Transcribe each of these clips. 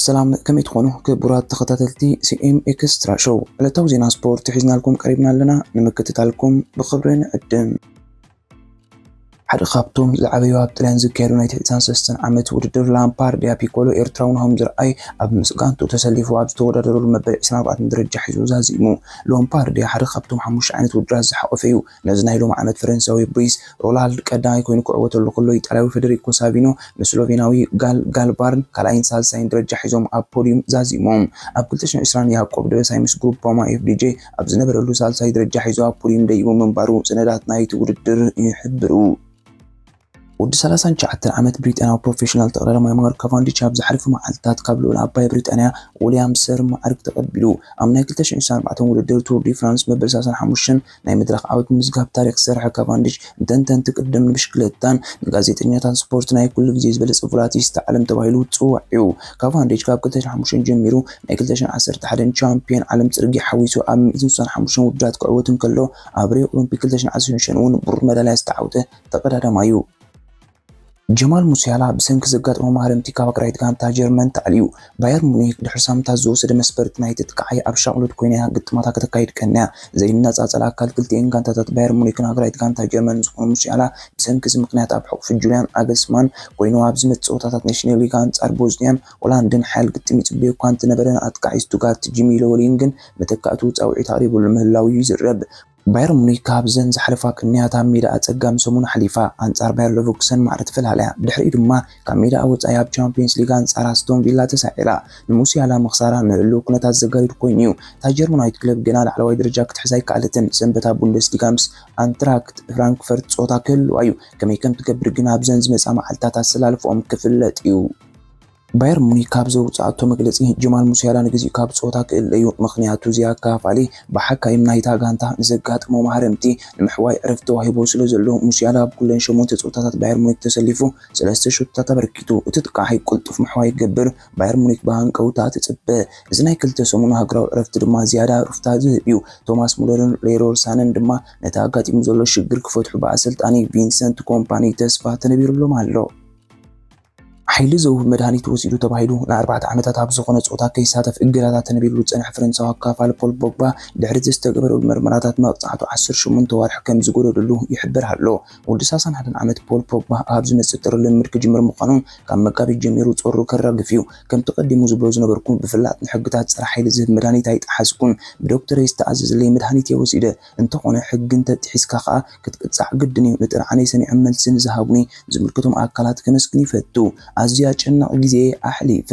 ሰላም ከመይ ትኾኑ ክቡራት ተኸታተልቲ ሲኤም ኤክስትራ ሾው ዕለታዊ ዜና ስፖርት ሒዝናልኩም ቀሪብና ኣለና ንምክትታልኩም ብኽብሪ ንዕድም ሓደ ካብቶም ዝዓበዩ ኣብ ጥልያን ዝካየዱ ናይ ትሕቲ ሰለስተን ዓመት ውድድር ላምፓር ዲያ ፒኮሎ ኤርትራዊ ናሆም ዝርኣይ ኣብ ምስ ጋንቱ ተሰሊፉ ኣብ ዝተወዳደረሉ መበል 24 ደረጃ ሒዙ ዛዚሙ። ሎምፓር ዲያ ሓደ ካብቶም ሓሙሽተ ዓይነት ውድድራት ዝሓቖፈ እዩ። ነዚ ናይ ሎሚ ዓመት ፈረንሳዊ ብሪስ ሮላልድ ቀዳማይ ኮይኑ ክዕወተሉ ከሎ ኢጣልያዊ ፈደሪኮ ሳቪኖ ን ስሎቬናዊ ጋል ጋልባርን ካልኣይን ሳልሳይን ደረጃ ሒዞም ኣብ ፖድዩም ዛዚሞም። ኣብ 2020 ያቆብ ደበሳይ ምስ ግሩፕ ፓማ ኤፍዲጄ ኣብ ዝነበረሉ ሳልሳይ ደረጃ ሒዙ ኣብ ፖድዩም ደይቡ ምንባሩ ሰነዳት ናይቲ ውድድር ይሕብሩ። ወዲ ሰላሳን ትሽዓተን ዓመት ብሪጣንያዊ ፕሮፌሽናል ተቐዳዳማይ ማርክ ካቫንዲች ኣብ ዝሓለፉ መዓልታት ካብ ልኡል ዓባይ ብሪጣንያ ዊልያም ሰር መዓርግ ተቐቢሉ። ኣብ ናይ ክልተ ሽሕን ዕስራን ኣርባዕተን ውድድር ቱር ዲ ፍራንስ መበል ሰላሳን ሓሙሽተን ናይ መድረኽ ዓወት ብምምዝጋብ ታሪኽ ዝሰርሐ ካቫንዲች፣ ንተንተንቲ ቅድድም፣ ንብሽክለታን ንጋዜጠኛታት ስፖርት ናይ ኩሉ ግዜ ዝበለጸ ቮላቲስታ ዓለም ተባሂሉ ዝጽዋዕ'ዩ። ካቫንዲች ካብ ክልተ ሽሕን ሓሙሽተን ጀሚሩ ናይ ክልተ ሽሕን ዓሰርተ ሓደን ቻምፕዮን ዓለም ጽርግያ ሓዊሱ ኣብ ሚእትን ስሳን ሓሙሽተን ውድድራት ክዕወት እንከሎ ኣብ ሪዮ ኦሎምፒክ ክልተ ሽሕን ዓሰርተ ሽዱሽተን'ውን ብሩር መዳልያ ዝተዓውተ ተቐዳዳማይ'ዩ። ጀማል ሙሲያላ ብሰንኪ ዘጋጠሞ ማህረምቲ ካብ ኣቅራይት ጋንታ ጀርመን ተኣልዩ። ባየር ሙኒክ ድሕሪ ሳምንታት ዝወሰደ መስፈርቲ ናይቲ ተካዓይ ኣብ ሻቕሎት ኮይና'ያ ግጥማታ ከተካይድ ቀንያ። ዘይነጻጸል ኣካል ክልቲኤን ጋንታታት ባየር ሙኒክን ኣቅራይት ጋንታ ጀርመንን ዝኾነ ሙሲያላ ብሰንኪ'ዚ ምኽንያት ኣብ ሕቑፊ ጁልያን ናግልስማን ኮይኑ ኣብ ዝመጽእ ጸወታታት ኔሽንሊግ ኣንጻር ቦዝንያን ሆላንድን ሓያል ግጥም ይጽበዮ'ኳ እንተነበረ ንኣጥቃዓይ ስቱትጋርት ጂሚ ሎወሊንግን መተካእትኡ ጻውዒት ኣቕሪብሉ ምህላዉ'ዩ ዝዝረብ። ባየር ሙኒክ ካብዘን ዝሓለፋ ቅንያት ኣብ ሜዳኣ ኣጸጋሚ ሰሙን ኣሕሊፋ። ኣንጻር ባየር ለቨርኩሰን ማዕረ ተፈላልያ፣ ድሕሪኡ ድማ ካብ ሜዳኣ ወጻኢ ኣብ ቻምፕዮንስ ሊግ ኣንጻር ኣስቶን ቪላ ተሳዒራ። ንሙሲያላ ምኽሳራ ንህሉው ኩነታት ዘጋድድ ኮይኑ'ዩ። እታ ጀርመናዊት ክለብ ገና ላዕለዋይ ደረጃ ክትሕዝ ኣይከኣለትን። ሰንበት ኣብ ቡንደስሊጋ ምስ ኣንትራክት ፍራንክፈርት ጸወታ ክህልዋ'ዩ። ከመይ ከም ትገብር ግን ኣብዘን ዝመጻ መዓልታት ኣሰላልፋኦም ክፍለጥ'ዩ። ባየር ሙኒክ ካብ ዘውጽኣቶ መግለጺ፣ ጀማል ሙሲያላ ንግዚኡ ካብ ጸወታ ክእለ'ዩ፣ ምኽንያቱ ዚኣካፋሊ ብሓካይም ናይታ ጋንታ ንዘጋጠሞ ማህረምቲ ንምሕዋይ ዕረፍቲ ተዋሂብዎ ስለዘሎ። ሙሲያላ ኣብ ኩለን ሸሞንተ ጸወታታት ባየር ሙኒክ ተሰሊፉ ሰለስተ ሸቶታት ኣበርኪቱ። እቲ ተካዕይ ቅልጡፍ ምሕዋይ ክገብር ባየር ሙኒክ ብሃንቀውታ ትጽበ። እዚ ናይ ክልተ ሰሙን ሃገራዊ ዕረፍቲ ድማ ዝያዳ ሩፍታ ዝህብ'ዩ። ቶማስ ሙለርን ሌሮር ሳነን ድማ ነቲ ኣጋጢሙ ዘሎ ሽግር ክፈትሑ ብኣሰልጣኒ ቪንሰንት ኮምፓኒ ተስፋ ተነቢሩሎም ኣሎ። ሓይሊ ዝህቡ መድሃኒት ወሲዱ ተባሂሉ ንኣርባዕተ ዓመታት ኣብ ዝኾነ ጸወታ ከይሳተፍ እገዳታት ተነቢርሉ ዝጸንሐ ፈረንሳዊ ኣካፋሊ ፖል ፖግባ፣ ድሕሪ'ቲ ዝተገበረሉ መርመራታት መቕጻዕቱ ዓሰርተ ሸሞንተ ኣዋርሕ ከም ዝጎደለሉ ይሕበር ኣሎ። ወዲ ሳሳን ሓደን ዓመት ፖል ፖግባ ኣብ ዝመጽእ ጥሪ ልምምድ ክጅምር ምዃኑ ካብ መጋቢት ጀሚሩ ጾሩ ከራግፍ'ዩ። ከምቲ ቀዲሙ ዝብሎ ዝነበርኩ ብፍላጥ ንሕግታት ጸረ-ሓይሊ ዝህብ መድሃኒት ኣይጠሓስኩን። ብዶክተረይ ዝተኣዘዘለይ መድሃኒት'የ ወሲደ። እንተኾነ ሕጊ እንተጢሒስካ ከኣ ክትቅጻዕ ግድን እዩ። ንጥርዓነይ ሰሚዖም መልሲ ንዝሃቡኒ ዝምልከቶም ኣካላት ከመስግን ይፈቱ። ኣዝዩ ኣጨናቒ ግዜ እየ ኣሕሊፈ።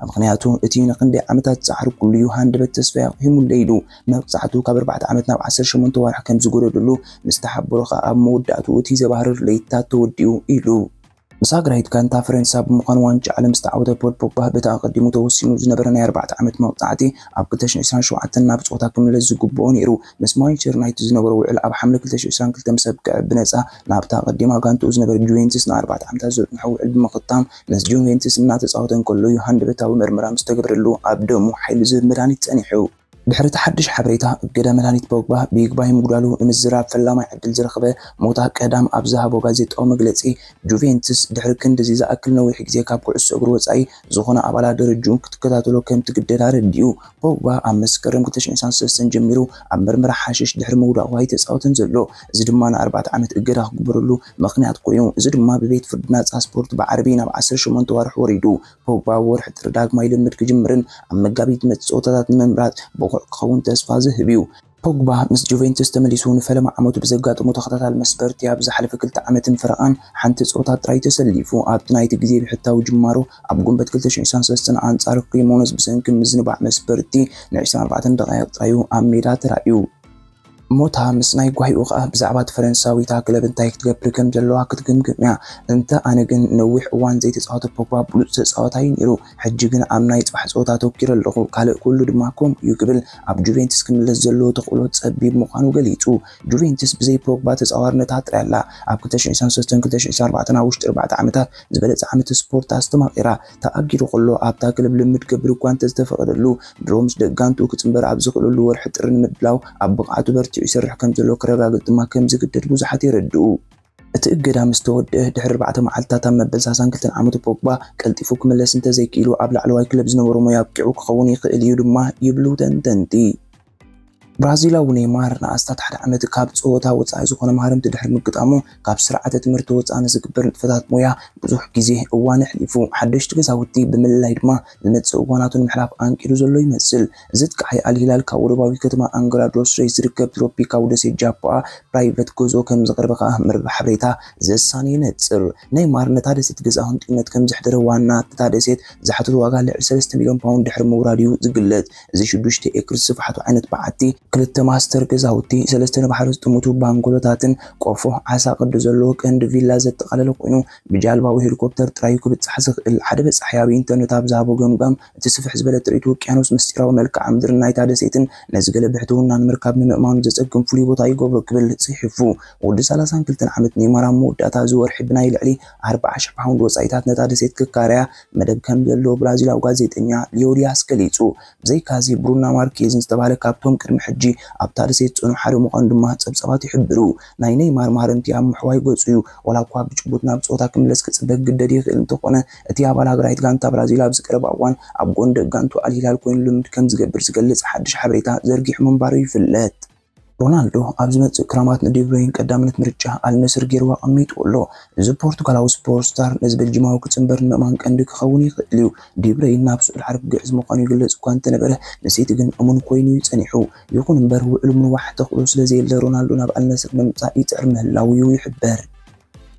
ምኽንያቱ እቲ ንኽንደይ ዓመታት ዝጸዓርኩሉ እዩ ሃንደበት ተስፋይ ኣቝሂሙለይ ኢሉ። መቕጻዕቱ ካብ ኣርባዕተ ዓመት ናብ ዓሰርተ ሸሞንተ ኣዋርሕ ከም ዝጐደደሉ ምስ ተሓበሮ ከኣ ኣብ መወዳእትኡ እቲ ዘባህርር ለይቲታት ተወዲኡ ኢሉ። ምስ ሃገራዊት ጋንታ ፈረንሳ ብምዃን ዋንጫ ዓለም ዝተዓወተ ፖል ፖግባ፣ በቲ ኣቐዲሙ ተወሲኑ ዝነበረ ናይ ኣርባዕተ ዓመት መቕጻዕቲ ኣብ ክልተ ሽሕን ዕስራን ሸውዓተን ናብ ጸወታ ክምለስ ዝግብኦ ነይሩ። ምስ ማንቸስተር ዩናይትድ ዝነበሮ ውዕል ኣብ ሓምለ ክልተ ሽሕን ዕስራን ክልተን ምስ ኣብቅዐ፣ ብነጻ ናብታ ኣቐዲማ ጋንታኡ ዝነበረት ጁቬንትስ ንኣርባዕተ ዓመታት ዘጽንሖ ውዕል ብምኽታም ምስ ጁቬንትስ እናተጻወተ እንከሎ'ዩ ሃንደበታዊ መርመራ ምስ ተገብረሉ ኣብ ደሙ ሓይሊ ዝህብ መድሃኒት ጸኒሑ። ድሕሪ እቲ ሓድሽ ሓበሬታ እገዳ መድሃኒት ፖግባ ብይግባይ ምጉዳሉ ንምዝራብ ፈላማይ ዕድል ዝረኽበ ሞታ ቀዳም ኣብ ዝሃቦ ጋዜጣዊ መግለጺ፣ ጁቬንትስ ድሕሪ ክንድዚ ዝኣክል ነዊሕ ግዜ ካብ ኩዕሶ እግሪ ወጻኢ ዝኾነ ኣባላት ደረጅኡ ክትከታተሎ ከም ትግደድ ኣረዲኡ። ፖግባ ኣብ መስከረም ክልተ ሽሕን ሸሞንተን ሰለስተን ጀሚሩ ኣብ ምርመራ ሓሽሽ ድሕሪ ምውዳቑ ኣይተጻወተን ዘሎ። እዚ ድማ ንኣርባዕተ ዓመት እገዳ ክግበረሉ ምኽንያት ኮይኑ። እዚ ድማ ብቤት ፍርዲ ናጻ ስፖርት ብዓርቢ ናብ ዓሰርተ ሸሞንተ ኣዋርሕ ወሪዱ። ፖግባ ኣብ ወርሒ ጥሪ ዳግማይ ልምምድ ክጅምርን ኣብ መጋቢት ዝመጽእ ጸወታታት ንምምራጽ ብቑዕ ክኸውን ተስፋ ዝህብ እዩ። ፖግባ ምስ ጁቬንቱስ ተመሊሱ ንፈለማ ዓመቱ ብዘጋጠሞ ተኸታታሊ መስበርቲ ኣብ ዝሓለፈ ክልተ ዓመትን ፈረቓን ሓንቲ ጸወታ ጥራይ ተሰሊፉ። ኣብቲ ናይቲ ግዜ ብሕታዊ ጅማሮ ኣብ ግንቦት ክልተ ሽሕ ዒስራን ሰለስተን ኣንጻር ክሪሞነዝ ብሰንኪ ምዝንባዕ መስበርቲ ንዕስራን ኣርባዕተን ደቓይቕ ጥራይ'ዩ ኣብ ሜዳ ተራእዩ። ሞታ ምስ ናይ ጓሂኡ ከኣ ብዛዕባ እቲ ፈረንሳዊታ ክለብ እንታይ ክትገብር ከም ዘለዋ ክትግምግም እያ። እንተ ኣነ ግን ንነዊሕ እዋን ዘይተጻወተ ፖግባ ብሉጽ ተጻዋታይ እዩ ነይሩ። ሕጂ ግን ኣብ ናይ ጽባሕ ጸወታ ኣተኲረ ኣለኹ፣ ካልእ ኩሉ ድማ ከምኡ እዩ ክብል ኣብ ጁቬንትስ ክምለስ ዘለዎ ተኽእሎ ጸቢብ ምዃኑ ገሊጹ። ጁቬንትስ ብዘይ ፖግባ ተጻዋርነታ ጥራይ ኣላ። ኣብ ክልተ ሽሕ ዒስራን ሰለስተን ክልተ ሽሕ ዒስራን ኣርባዕተን ኣብ ውሽጢ ኣርባዕተ ዓመታት ዝበለጸ ዓመተ ስፖርት ኣስተማቒራ። ተኣጊዱ ከሎ ኣብታ ክለብ ልምምድ ክገብር እኳ እንተዝተፈቐደሉ፣ ድሮ ምስ ደቂ ጋንትኡ ክጽንበር ኣብ ዝኽእለሉ ወርሒ ጥሪ ንምድላው ኣብ ብቕዓቱ በርቲዑ ይሰርሕ ከምዘሎ ከረጋግጽ ድማ ከምዝግደድ ብዙሓት የረድኡ። እቲ እገዳ ምስ ተወድኣ ድሕሪ ኣርባዕተ መዓልትታት ኣብ መበል ሳሳን ክልተን ዓመቱ ፖግባ ቀልጢፉ ክምለስ እንተዘይክኢሉ ኣብ ላዕለዋይ ክለብ ዝነበሮ ሞያ ኣብቂዑ ክኸውን ይኽእል እዩ ድማ ይብሉ ተንተንቲ። ብራዚላዊ ኔይማር ንኣስታት ሓደ ዓመት ካብ ጸወታ ወጻኢ ዝኾነ መሃረምቲ ድሕሪ ምግጣሙ፣ ካብ ስርዓተ ትምህርቲ ወጻኢ ንዝግበር ንጥፈታት ሞያ ብዙሕ ግዜ እዋን ኣሕሊፉ። ሓደሽቲ ገዛውቲ ብምልላይ ድማ ንመጻኢ እዋናቱ ንምሕላፍ ኣንቂዱ ዘሎ ይመስል። እዚ ኣጥቃዓይ ኣል ሂላል ካብ ወደባዊት ከተማ ኣንግራ ዶስ ሬይስ ዝርከብ ትሮፒካዊ ደሴት ጃፖኣ ፕራይቨት ገዝኦ ከምዘቕረበ ከኣ መርበብ ሓበሬታ ዘ ሳን የነጽር። ኔይማር ነታ ደሴት ገዛኡ ህንጡይነት ከምዘሕደረ ዋና እታ ደሴት ዝሓተቶ ዋጋ ልዕሊ ሰለስተ ሚልዮን ፓውንድ ድሕሪ ምውራዱ'ዩ ዝግለጽ። እዚ ሽዱሽተ ኤክርስ ስፍሓቱ ዓይነት በዓቲ፣ ክልተ ማስተር ገዛውቲ፣ ሰለስተ ንባሕሪ ዝጥምቱ ባንገሎታትን ቆፎ ዓሳ ቅዲ ዘለዎ ቀንዲ ቪላ ዘጠቓለለ ኮይኑ፣ ብጃልባ ወይ ሄሊኮፕተር ጥራይ'ዩ ክብጻሕ ዝኽእል። ሓደ በጻሒ ኣብ ኢንተርነት ኣብ ዝሃቦ ገምጋም፣ እቲ ስፍሕ ዝበለ ጥሪት ውቅያኖስ ምስጢራዊ መልክዓ ምድርን ናይታ ደሴትን ነዚ ገለ ብሕትውና ንምርካብ ንምእማኑ ዘጸግም ፍሉይ ቦታ ይገብሮ ክብል ጽሒፉ። ወዲ ሰላሳን ክልተን ዓመት ኔይማር ኣብ መወዳእታ እዚ ወርሒ ብናይ ልዕሊ ኣርብዓ ሽሕ ፓውንድ ወጻኢታት ነታ ደሴት ክካረያ መደብ ከም ዘሎ ብራዚላዊ ጋዜጠኛ ሊዮ ዲያስ ገሊጹ። ብዘይካዚ ብሩና ማርኬዝን ዝተባህለ ካብቶም ቅድሚ ሕጂ ኣብታ ደሴት ዝጸንሑ ሓደ ምዃኑ ድማ ጸብጻባት ይሕብሩ። ናይ ነይማር ማህረምቲ ኣብ ምሕዋይ ገጹ'ዩ። ዋላ'ኳ ብጭቡት ናብ ጸወታ ክምለስ ክጽበ ክግደድ ይኽእል እንተኾነ፣ እቲ ኣባል ሃገራዊት ጋንታ ብራዚል ኣብዚ ቀረባ እዋን ኣብ ጎኒ ደጋንቱ ኣል ሂላል ኮይኑ ልምምድ ከምዝገብር ዝገልጽ ሓድሽ ሓበሬታ ዘርጊሑ ምንባሩ ይፍለጥ። ሮናልዶ ኣብ ዝመጽእ ክራማት ንዲብሮይን ቀዳምነት ምርጫ ኣል ነስር ገይሩ ኣቐሚጥዎ ኣሎ። እዚ ፖርቱጋላዊ ስፖርት ስታር ነዚ ቤልጂማዊ ክጽንበር ንምእማን ቀንዲ ክኸውን ይኽእል እዩ። ዲብሮይን ናብ ስዑድ ዓረብ ክግዕዝ ምዃኑ ይግለጽ እኳ እንተነበረ ንሲቲ ግን እሙን ኮይኑ እዩ ጸኒሑ። ይኹን እምበር ውዕሉ ምንዋሕ ተኽእሎ ስለዘየለ ሮናልዶ ናብ ኣል ነስር ንምምጻእ ይጽዕር ምህላዉ እዩ ይሕበር።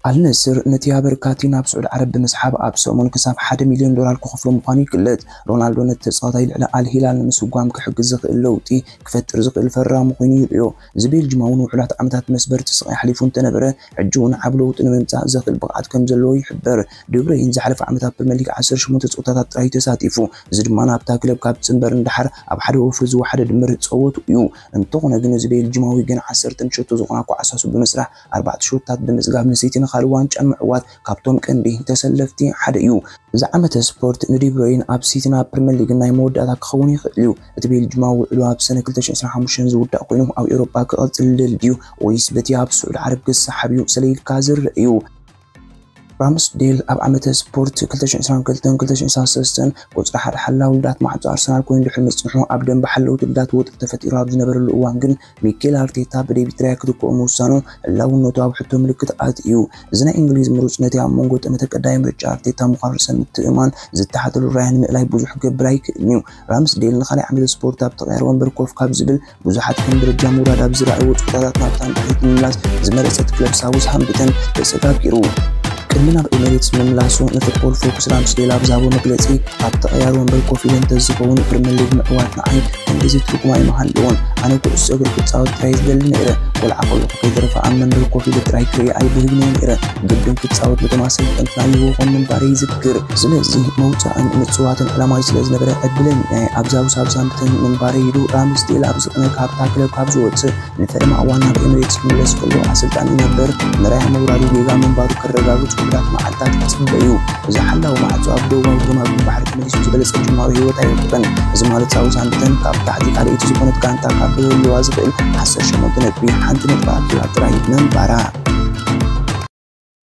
ኣል ነስር ነቲ ኣበርካቲ ናብ ስዑድ ዓረብ ብምስሓብ ኣብ ሰሙን ክሳብ ሓደ ሚልዮን ዶላር ክኸፍሎ ምዃኑ ይግለጽ። ሮናልዶ ነቲ ተጻዋታይ ልዕሊ ኣል ሂላል ንምስጓም ክሕግዝ ዝኽእል ለውጢ ክፈጥር ዝኽእል ፈራሚ ኮይኑ ይርእዮ። እዚ ቤልጂማዊ ንውሑዳት ዓመታት መስበርቲ ስቓይ ኣሕሊፉ እንተነበረ ሕጂ'ውን ዓቢ ለውጢ ንምምጻእ ዘኽእል ብቕዓት ከምዘለዎ ይሕበር። ደብረይን ዝሓለፈ ዓመት ኣብ ፕሪመር ሊግ ዓሰርተ ሸሞንተ ጸወታታት ጥራይ'ዩ ተሳቲፉ፣ እዚ ድማ ናብታ ክለብ ካብ ትጽንበር ንደሓር ኣብ ሓደ ወፍሪ ዝወሓደ ድምር ጸወትኡ'ዩ። እንተኾነ ግን እዚ ቤልጂማዊ ገና ዓሰርተ ንሸቶ ዝኾናኳ ዓሳሱ ብምስራሕ፣ ኣርባዕተ ሹታት ብምጽጋብ ንሲቲ ንኻልእ ዋንጫ ንምዕዋት ካብቶም ቀንዲ ተሰለፍቲ ሓደ እዩ። እዚ ዓመተ ስፖርት ንዲብሮይነ ኣብ ሲቲ ናብ ፕሪመር ሊግ ናይ መወዳእታ ክኸውን ይኽእል እዩ። እቲ ቤልጁማዊ ውዕሉ ኣብ ሰነ ክልተ ሽሕን ዕስራን ሓሙሽተን ዝውዳእ ኮይኑ ኣብ ኤውሮጳ ክቕጽል ይደሊ ድዩ ወይስ በቲ ኣብ ስዑድ ዓረብ ክሰሓብ እዩ ሰለ ኢልካ ዝርእ እዩ። ራምስዴል ኣብ ዓመተ ስፖርት ክልተ ሽሕን ዕስራን ክልተን ክልተ ሽሕን ዕስራን ሰለስተን ቁጽሪ ሓደ ሓላዊ ልዳት ማዕጾ ኣርሰናል ኮይኑ ድሕሪ ምጽንሑ ኣብ ደንበ ሓለውቲ ልዳት ወጥሪ ተፈጢሩ ኣብ ዝነበረሉ እዋን ግን ሚኬል ኣርቴታ ብዴቪድ ራያ ክትክኦ ምውሳኑ ህላውነቱ ኣብ ሕቶ ምልክት ኣእትዩ። እዚ ናይ እንግሊዝ ምሩጽ ነቲ ኣብ መንጎ ጠመተ ቀዳማይ ምርጫ ኣርቴታ ምዃኑ ርእሰ ምትእምማን ዝተሓተሉ ራያ ንምእላይ ብዙሕ ክገብር ኣይክእልን'ዩ። ራምስዴል ንኻልኣይ ዓመተ ስፖርት ኣብ ተቐያሪ ወንበር ኮፍ ካብ ዝብል ብዙሓት ከም ደረጃ ምውራድ ኣብ ዝረኣይዎ ጸወታታት ናብታ ንድሕሪት ምምላስ ዝመረጸት ክለብ ሳውዝሃምፕተን ተሰጋጊሩ። ቅድሚ ናብ ኤሜሬትስ ምምላሱ ንፉትቦል ፎኩስ ራምስዴል ኣብ ዝሃቦ መግለጺ ኣብ ተቐያሪ ወንበር ኮፍ ኢለ እንተዝኸውን ፕሪምየር ሊግ ምዕዋት ንዓይ ክንድዚ ትርጉም ኣይምሃለዎን። ኣነ ኩዕሶ እግሪ ክጻወት ጥራይ ዝደሊ ነይረ። ቆልዓ ከለኹ ከይተረፈ ኣብ መንበር ኮፍ ኢለ ጥራይ ክርኢ ኣይብህግን እየ ነይረ። ግድን ክጻወት ነቶም ኣሰልጠንትና ይህብዎም ምንባረይ ይዝክር። ስለዚ ምውጻእን ምጽዋትን ዕላማይ ስለ ዝነበረ ዕድለኛ እየ። ኣብዛ ውሳብሳን ክፍትን ምንባረይ ኢሉ ራምስዴል ኣብ ዝቕነ ካብታ ክለብ ካብ ዝወፅእ ንፈለማ እዋን ናብ ኤምሬትስ ክምለስ ከሎ ኣሰልጣኒ ነበር መራያ ምውራዱ ጌጋ ምንባሩ ከረጋግፅ ውሑዳት መዓልታት ክፅበ እዩ። እዚ ሓላዊ ማዕፆ ኣብ ደቡባዊ ግርማዊ ባሕሪ ተመሊሱ ዝበለፀ ጅማሮ ህይወት ኣይረክበን። እዚ ማለት ሳውዝሃምፕተን ካብ ታሕቲ ካልኣይቲ ዝኾነት ጋንታ ካብ ክህልዋ ዝኽእል ዓሰርተ ሸሞንተ ነጥቢ ሓንቲ ነጥቢ ኣኪባ ጥራይ ምንባራ